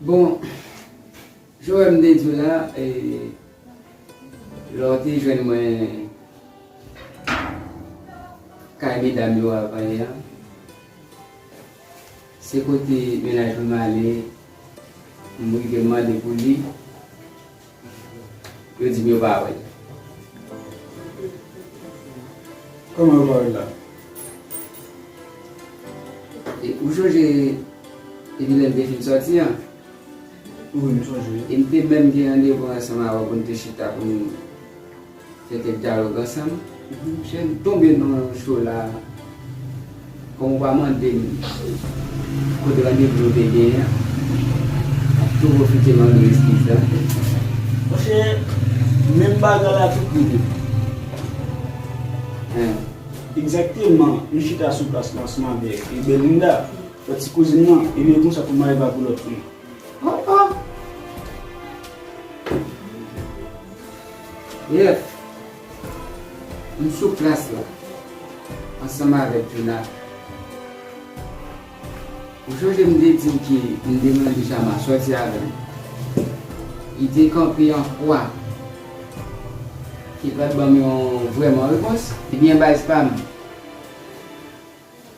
Bon Joel m te di w la e lè w te jwenn mwen kay medam yo a pale a se kote menaj mwen ale m rive mande pou li. Yo di m yo pa wè l. Kòman yo pa wè l la? E ou chonje depi lè m te fin sòti an? Wi, m chonje. E m te menm gen randevou ansanm avè w pou n te chita pou n. Fè kèk dyalòg ansanm. Misye tonbe nan yon cho la Kòm ou pa mande m kote randevou nou te genyen an Map tou pwofite mande w eskiz la Monchè menm bagay la tout moun yo fè l Egzakteman Nou chita sou plas Mars Mabel e Belinda fè ti kouzin nan e li reponn sa pou Maëva pou lòt fi yo. Oh oh Jeff M sou plas la ansanm avèk Djouna Ou sonje m te di w ke m te mande Chama sòti avè m Li te kanpe an kwa Ki pral ban m yon vrèman repons Ebyen baz pa m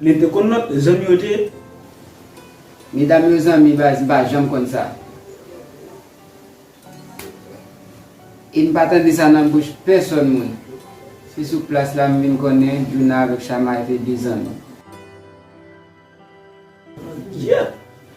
Men te konn lot zanmi yo te. Medam yo zanmi baz mpa janm konn sa e mpa tande sa nan bouch pèsòn moun se sou plas la m vin konnen Djouna avèk Shamar te de zanmi. Yeuh!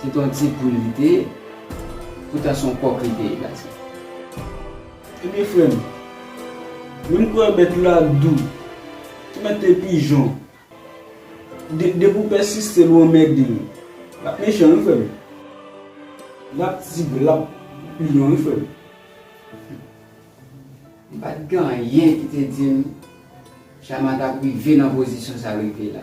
Se t on ti poul li te ye poutan se on kòk li te ye gason. Ebyen frè m, menm kou wè bèt la dou, ti mète pijon, depi w pèsiste l ou anmède l, l ap mechan wi frè m, l ap tigre, l ap lyon wi frè m. M pa t gen anyen ki te di m Chama t ap rive nan pozisyon sa l rive la.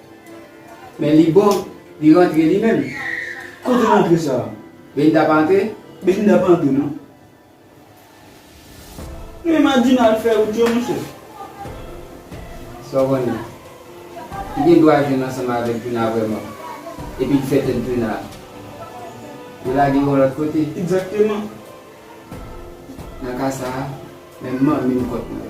Men li bon li rantre li menm. Kote rantre sa? Belinda pa antre? Belinda pa antre non. Men madina al fè wout yo monchè. Sa w konnen? Li gen dwa jwenn ansanm avèk Djouna vrèman. Epi l fè tèt Djouna. Yo lage yon lòt kote. Egzakteman. Nan ka sa a, menm manmi m kont mwen.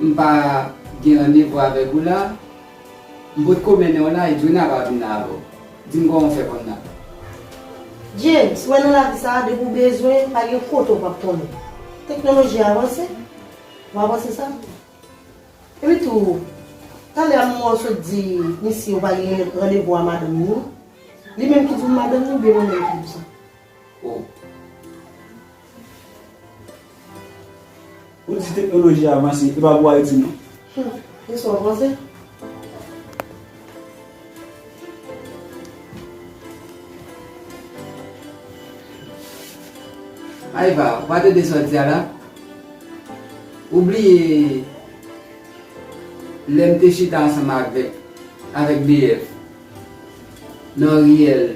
M pa gen randevou avèk ou la M pot ko mennen w la Edwina pa vin la avè w Di m kòman w fè konn la James, wè nan lavi sa a depi w bezwen pa gen kote w pap konnen Teknoloji a avanse Ou pa panse sa? Epi tou Talè a m wè w sot di misye ou pa gen randevou a madanm ni Li menm ki di w madanm ni oubyen mwen menm ki di w sa? Ou di teknoloji a avanse, e pa pou Ayiti non. Hum, e sa w panse? Aiva, ou pa tande sa w di a la? Ou bliye lè m te chita ansanm avèk BF nan riyèl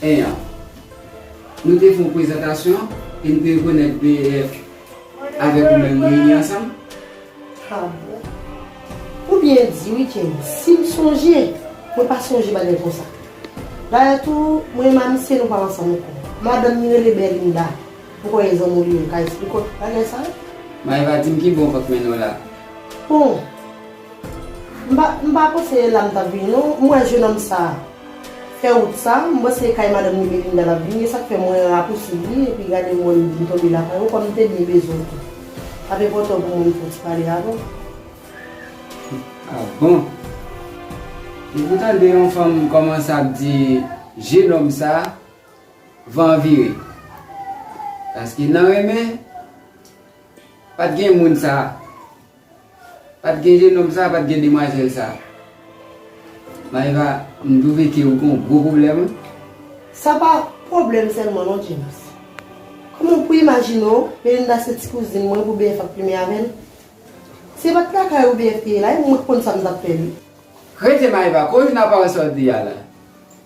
1 an. Nou te fè yon prezantasyon e m te rekonèt BEF avèk ou menm reyini ansanm. Harbor. Ou byen di wi Kenny, si m sonje, mwen pa sonje bagay konsa. Dayè tou, mwen menm a misye nou pa ansanm ankò. Madanm li rele Berlinda, m kwè e zanmi w li ye, m ka esplike w tout bagay sa yo? Maeva di m ki bon vant mennaj w la. Bon! M pa panse e la m t ap vini non. M wè jenòm sa a fè wout sa a. M panse e kay madanm ni Melinda l ap vini. E sa k fè mwen rapousiv li epi gade m wè m vin tonbe lakay ou kòm m te byen bezwen w tou. L ap enpòtan pou mwen m fè w ti pale avè w. A bon? Depi w tande yon fanm kòmanse ap di jenòm sa a, van an vire. Paske nan renmen, pa t gen moun sa a. Pat gen jenòm sa pat gen demwazèl sa Maeva m trouve ke ou gen yon gwo pwoblèm wi. Sa pa pwoblèm sèlman non James. Kòman w pou imajine w Melinda se ti kouzin mwen pou BF ap plimen avè l? Si se pat lakay ou BF te ye la e mwen k konn sa m tap fè li. Rete Maeva kouz nan pa w sòti a la.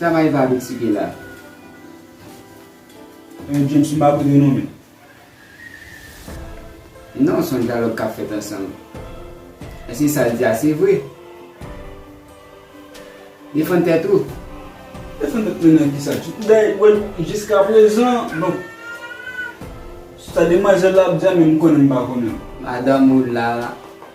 Travay pa vit si ke la. Eeh James ou pa kote non men. Non son dyalòg kap fèt ansanm. Èske sa l di a se vre? Defann tèt ou. Defann tèt mwen nan kisa? Jiska prezan bon sa demwazèl la ap di a menm m konnen m pa konnen. Madanm ou la.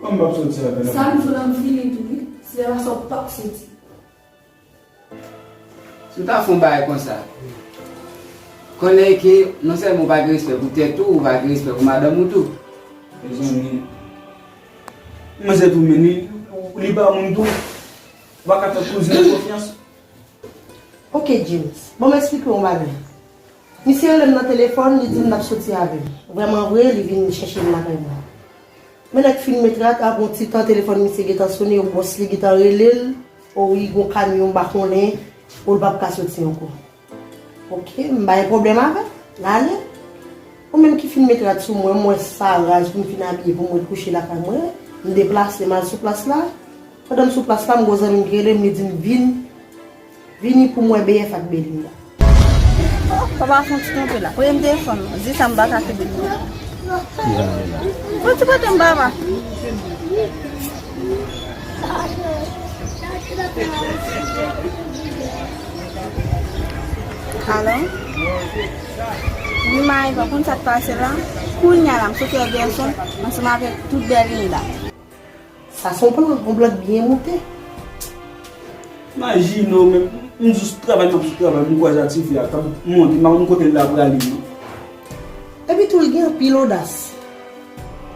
Kòman m ap soti avè l? Sa m sou la m fini tou wi. Si se pa sa ou pap soti. Si w ta fè yon bagay konsa, konnen ke non sèlman ou pa gen respè pou tèt ou, ou pa gen respè pou madanm ou tou. Mezanmi, manzè tou menm li, li pa moun tou. Ou pa ka fè kouzin ou konfyans. Ok James, ban m esplike w yon bagay. Misye rele m nan telefòn, li di m l ap soti avè m. Vrèman vre, li vin chèche m lakay mwen. Men lè k fin met rak, apre yon ti tan telefòn misye gentan sone o bòs li gentan rele l, o wi gen yon kamyon m pa konnen, o l p ap ka soti ankò. Ok, m pa gen pwoblèm avè l, n ale. Mwen menm ki fin met rad sou mwen, m wè sa raz pou m fin abiye pou m ret kouche lakay mwen, m deplase m al sou plas la. Pandan m sou plas la, m gen yon zanmi m ki rele m, li di m vin. Vini pou mwen BF ak Belinda. Sa pa fon ti kanpe la. Premye m te fanm nan. Di sa m baka kenbe l tou. Ki jan li la? Fon ti kote m baba. Alo? Wi Maeva ou konn sa k pase la? Kounya la m soti ak Gerson ansanm avèk tout Belinda. Sa son plan, yon plan k byen moute. Maji non men, m jis travay map jis travay m kwaze ak ti fi a kap monte m pa konn kote l la prale non. Epi tou li gen anpil odas.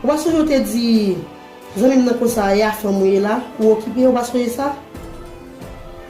Ou pa sonje ou te di zanmi m nan konsa a ya fanm ou ye la ou okipe ou pa sonje sa?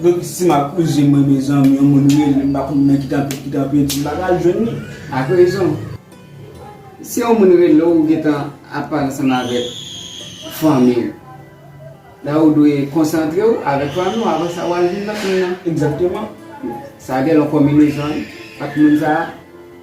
Mwen si map oze mwen mezanmi yon moun relem mpa konn nan ki tanpèt ki tanpèdi mpa pral jwenn li ak rezon si yon moun relew ou gentan ap pale ansanm avèk fanmiw la ou dwe konsantrew avèk fanmiw avan sa wal vin nan moun nan egzakteman sa gen yon konbinezon ak moun sa.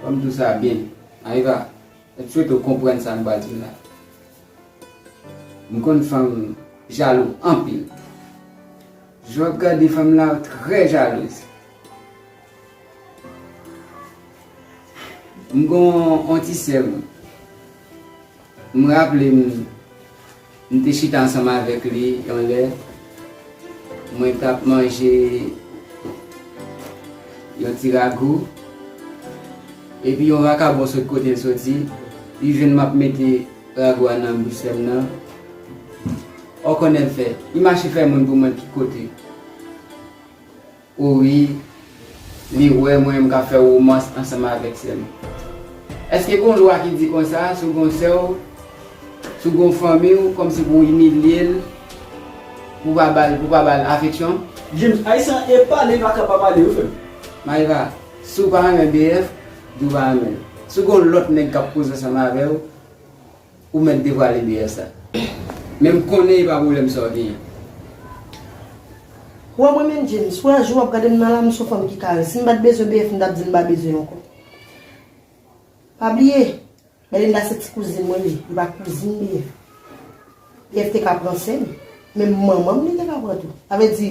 Fò m di w sa byen. Ayiva, m swete w konprann sa m pral di w la. M konn fanm jalou anpil. Jan w ap gade fanm la ou trè jalouz. M gen yon ti sè m. M raple m. M te chita ansanm avèk li yon lè, mwen t ap manje yon ti ragou, epi yon vakabon sot kote l soti, li jwenn m ap mete ragou a nan bouch sè m nan. Ò konnen l fè? Li mache fè moun pou mwen ki kote. O wi, li wè mwen m ka fè womans ansanm avèk sè m. Èske gon lwa ki di konsa sou gon sè w, sou gon fanmi w kòmsi pou w imilye l, pou w pa ba l, pou w pa ba l afeksyon? James, Ayisyen an epa li pa ka pa pale wi frè m. Maeva, Si w pa renmen BF, di w pa renmen l. Si w gon lòt nèg k ap koze ansanm avè w. Ou mèt devwale BS la. Men m konnen e pa pwoblèm sa w genyen. Ou wè mwen menm James, wè jan w ap gade m nan la, m son fanm ki kare. Si m pa t bezwen BF m t ap di m pa bezwen l ankò. Pa bliye, Belinda se ti kouzin mwen l ye, li pa kouzin BF. BF te ka pran sè m, menm manman m li te ka pran tou. Sa vle di.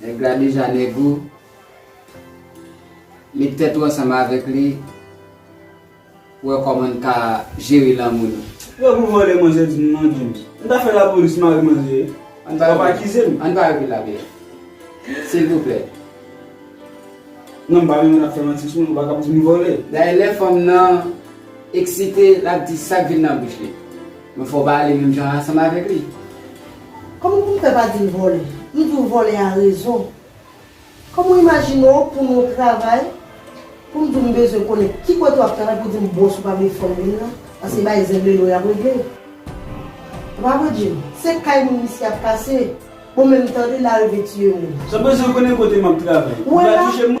Nèg la deja nèg ou, met tèt ou ansanm avèk li pou wè kòman n ka jere lanmou nou. Wè pou vòlè manzè di m non James. M ta fè lapolis mare manzè w ap akize m. Ann pa repiye la bèf. Silvouplè. Non m pa renmen lap fè manti sou mwen pou l pa kab di m vòlè. Dayè lè fanm nan eksite lap di sak vin nan bouch li. Men fò w pa ale menm jan ansanm avèk li. Kòman pou m fè pa di l vòlè? M di w vòlè a rezon. Kòman w imajine w pou nou travay, pou m di w m bezwen konnen ki kote w ap travay pou w di m bòs ou pa vle fè w vin la, paske bay zenglendo y ap regle. Ou pa vre Jim? Se kay moun misye ap kase. Bon men m tande l arive tiye moun. Sa w bezwen konnen kote m ap travay pou pa touche moun?